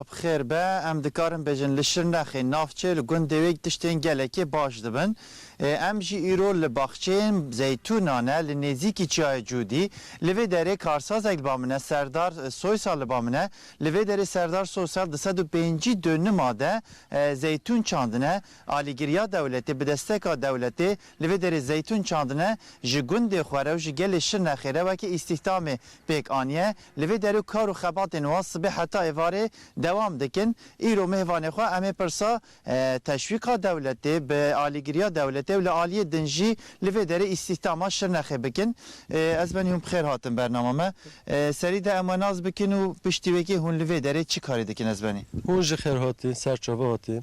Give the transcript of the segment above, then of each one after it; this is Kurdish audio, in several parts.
Bi xêr be, em dikarin bêjin li Şirnexê, navçê li gundê wê tiştên gelekê baş dibin. Em jî îro li baxçeyên zeytûnan e li nêzîkî çiyayê Cûdî. Li vê derê karsazek li ba min e, Serdar Soysal li ba min e. Li vê derê Serdar Soysal di sed û pêncî dönima de zeytûn çandine. Alîgiriya dewletê, bi desteka dewletê li vê derê zeytûn çandine. Ji gundê xwe re û ji gelê Şirnexê re weke îstîhdamê pêk aniye. Li vê derê kar û xebatên wan sibê heta êvarê dewam dikin. Îro mêvanê xwe em ê pirsa teşwîqa dewletê, bi alîgiriya dewletê û li aliyê din jî li vê derê îstîhdama Şirnexê bikin. Ez benî hûn bi xêr hatin bernama me. Serî de em we nas bikin û piştî wê kê hûn li vê derê çi karî dikin ez benî. Hûn jî xêr hatîn, ser çavi hatî.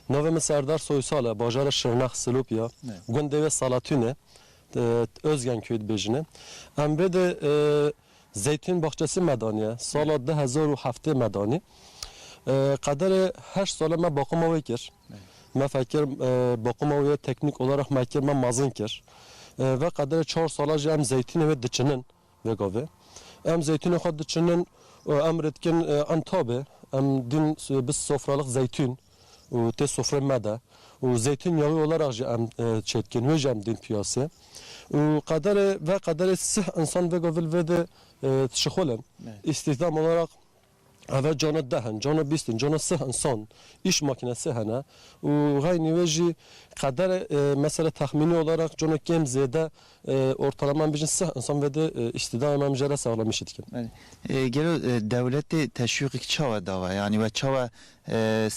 Navê min Serdar Soysal e, bajara Şirnex, Silopya, gundê wê Salatûn e, Ozgen köyê dibêjin e. Em vê de Zeytûn baxçesi me daniye. Sala du hezar û heftê me danî. Qederê heşt sale me baqûma wê kir. Me fekir baqûma wê teknîk olareq me kir, me mezin kir. Ve qederê çar sale jî em zeytûnê wê diçinin vê gavê. Em zeytûnê xwe diçinin û em rê dikin Entabê. Em dîn bi sofraliq zeytûn. û tê sofrê me de û zeytûn yawê olarak jî em çêdikên wê jî em dên piyasê û qederê ve qederê sih insan vêga vil vêdê tişixol in îstîhdam olarak eve cana deh in cana bîst in cana sih insan îş makînesê hene û xeynî wê jî qederê mesele texmînî olarak cana kêm zêde Ortalama em bêjin sih insan vede îstîdayê me em jê re saxlamîşî dikin. Gelo dewletê teşwîqîk çawa dawe? Yanî we çawa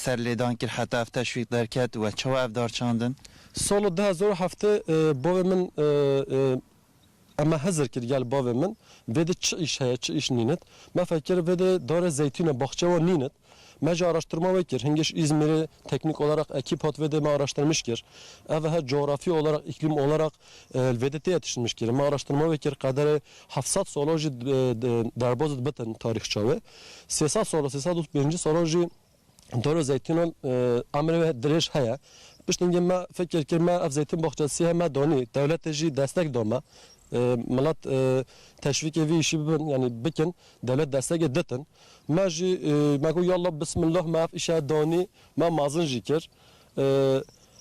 serlêdan kir heta ev teşwîq derket we çawa ev dar çandin? Sala du hezar û heft bavê min em me hizir kir gel bavê min vêde çi îş heye çi îş nînit. Me fekir vêde dare zeytûne baxçe wan nînit. Me jî araştirma wê kir. Hingêş Îzmîrê teknîk oleraq ekîp hat vêdê me araştirmiş kir. Ev he coğrafî oleraq, îklîm oleraq li vêdê têye tişinmiş kirin. Me araştirma wê kir qederê heft sed salan jî derbas dibitin tarîxça wê. Sê sed salan, sê sed û pêncî salan jî dara zeytûnan emrê wê dirêj heye. Piştîngê me fikir kir me ev zeytûn baxçesî ye me danî. Dewletê jî destek da me. Milet teşvîkê vî îşî bibin yanî bikin. Dewlet desteke ditin. Me jî me got yallah bismillah me ev îşe danî. Me mazin jî kir.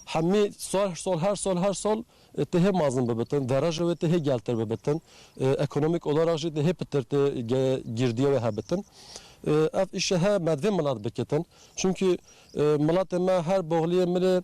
Hemî sal her sal her sal her sal tê hê mazin bibitin. Dereja wê tê hê geltir bibitin. Ekonomîk olarak jî tê hê pitir tê girdiya wê hebitin. Ev îşe he me divê milat bikitin. Çimkî milatê me her boxliyê milê.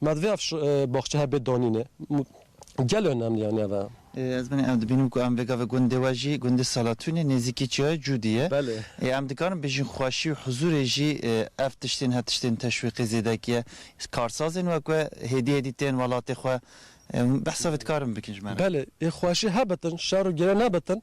Me divê ev baxçe hebe danîne. Gel önemli yani ev e. Ez benê em dibînim ku em vêga ve gundê we jî gundê Salatûnê nêzîkî çiyayê Cûdî ye. Belê. Ê em dikarin bêjin xweşî û huzûrê jî ev tiştên her tiştên teşwîqê zêdek ye. Karsazên wek we hêdî hêdî tên welatê xwe. Behsa vê dikarin bikin ji me re. Belê. Ê xweşî hebitin, şer û girê nebitin.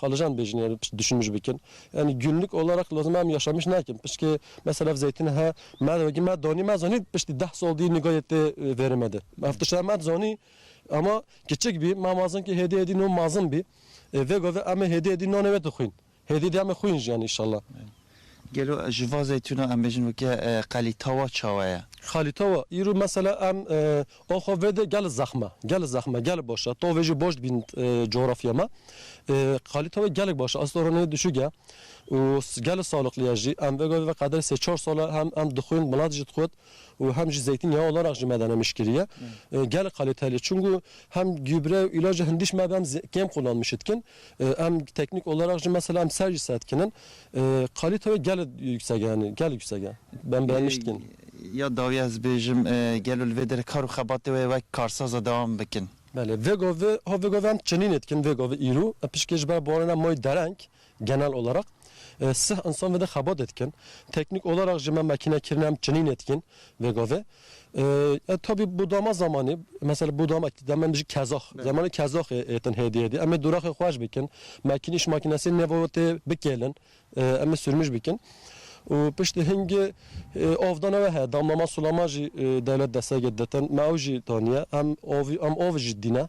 Xalijan dibêjin yani pişt düşünmüş bikin. Yani günlük olarak lazım em yaşamış nakin. Piştki mesela ev zeytini he me wegî me danî me zanî piştî deh sal dî nîga yê tê vêrê me de. Ev tişt em eb zanî ama kiçik bî me mazin kî hêdî hêdî no mazin bî. Vê govê emê hêdî hêdî nanê wê dixwîn. Hêdî hêdî emê xwîn jî yani inşallah. Gelo ji va zeytûna em bêjin weke qelîtawa çawe ye? Qelîtawa îro mesela em axa vê de gelê zexm e, gelê zexm e, gelê baş e. Tavê jî baş dibîn cografya me. Qelîtawê gelek baş e. Esta rûnê dişûk e û gelê saliqlî ye jî. Em vega vê veqedê sê çar sal e hem em dixwîn, milat jî dixwit. û hem jî zeytîn ya olan re ji me de nemiş kiriye. Gelek xalê telê çûn ku hem gübre û îlacê hindî ji me ve em kêm qullanmişê dikin. Em teknîk olarak jî mesela em ser jî ser dikinin. Xalî tewê gelek yüksek e yanî gelek yüksek e. Em bi nemiş dikin. Ya dawiya ez bêjim gelo li vê derê kar û xebatê wê wek karsaz e dewam bikin? Belê. Vêgovê, ha vêgovê em çinînê dikin vêgovê îro. Pişkê ji ber barana mayî dereng Genel olaraq, sih insan vede xebatê dikin. Teknîk olaraq jî me makîne kirine em çinînê dikîn vê gavê. Ya tabî bo dama zamanî, mesela bo dama ki dema em bijî kezax, zemanê kezaxê hêtin hêdî hêdî. Em ê dûraxê xweş bikin, makînî ji makînesê nêva wê tê bikêlin, em ê sûrmij bikin. Û piştî hingê avdana we heye, damlama sulama jî dewlet desteke ditin. Me ew jî daniye. Em avî em avê jî dîne.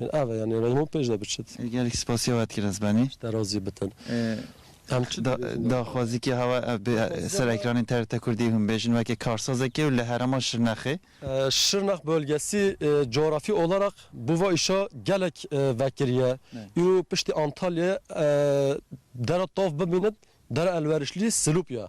Min ave yanê reyim û pêş de biçit. Gelek spasiya we dikir ez benî. Te razî bitin. Em çi dibêjin? Daxwazîkê hewa ev be ser ekranên TRT Kurdî hûn bêjin weke karsazekê û li herêma Şirnexê. Şirnex bölgesî cografî oleraq bo va îşa gelek vekirî ye. Îro piştî Antalyayê dere tav bimînin, dere elverişlî Silûpya.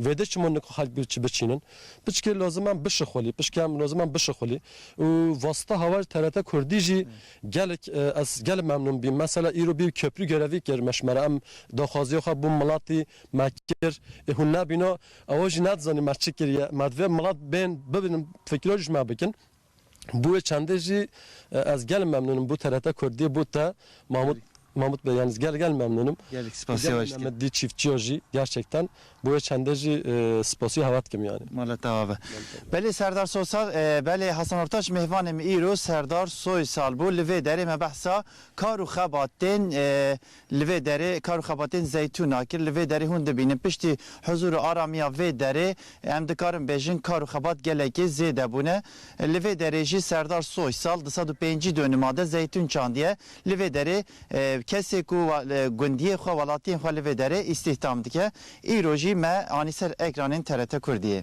Vêde çiman niko xelk bi çi biçînin. Piçkê lazim em bişixulî, piçkê em lazim em bişixulî û vasita hawar TRT Kurdî jî gelek ez gelek memnûn bîm. Mesela îro bî keprû gerevî kir me ji me re em daxwaziya xwe bo miletî me kir. Ê hûn nebîna ew jî nedizanî me çi kiriye. Me divê milet bên bibin fikra jî ji me bikin. Bo wê çandê jî ez gelê memnûn im bo TRT Kurdiyê bo te Mahmut Mahmut bey yanî ez gelê gelê memnûn im. Gelek spas ya we dikim. Dî çîftçiya jî gerçekten bo wê çandê jî spasî hewa dikim yanî. Mala te ava. Belê Serdar Soysal Belê Hasan Ortaç mêvanê min îro Serdar Soysal bo li vê derê me behsa kar û xebatên Li vê derê kar û xebatên Zeytûn a kir. Li vê derê hûn dibînin piştî huzûr û aramiya vê derê em dikarin bêjin kar û xebat gelekî zêde bûne. Li vê derê jî Serdar Soy sal du sed û pêncî dönuma de zeytûn çandiye. Li vê derê kesê ku gundiyê xwe, welatiyên xwe li vê derê îstîhdam dike. Îro jî me anî ser ekranên TRT Kurdiyê.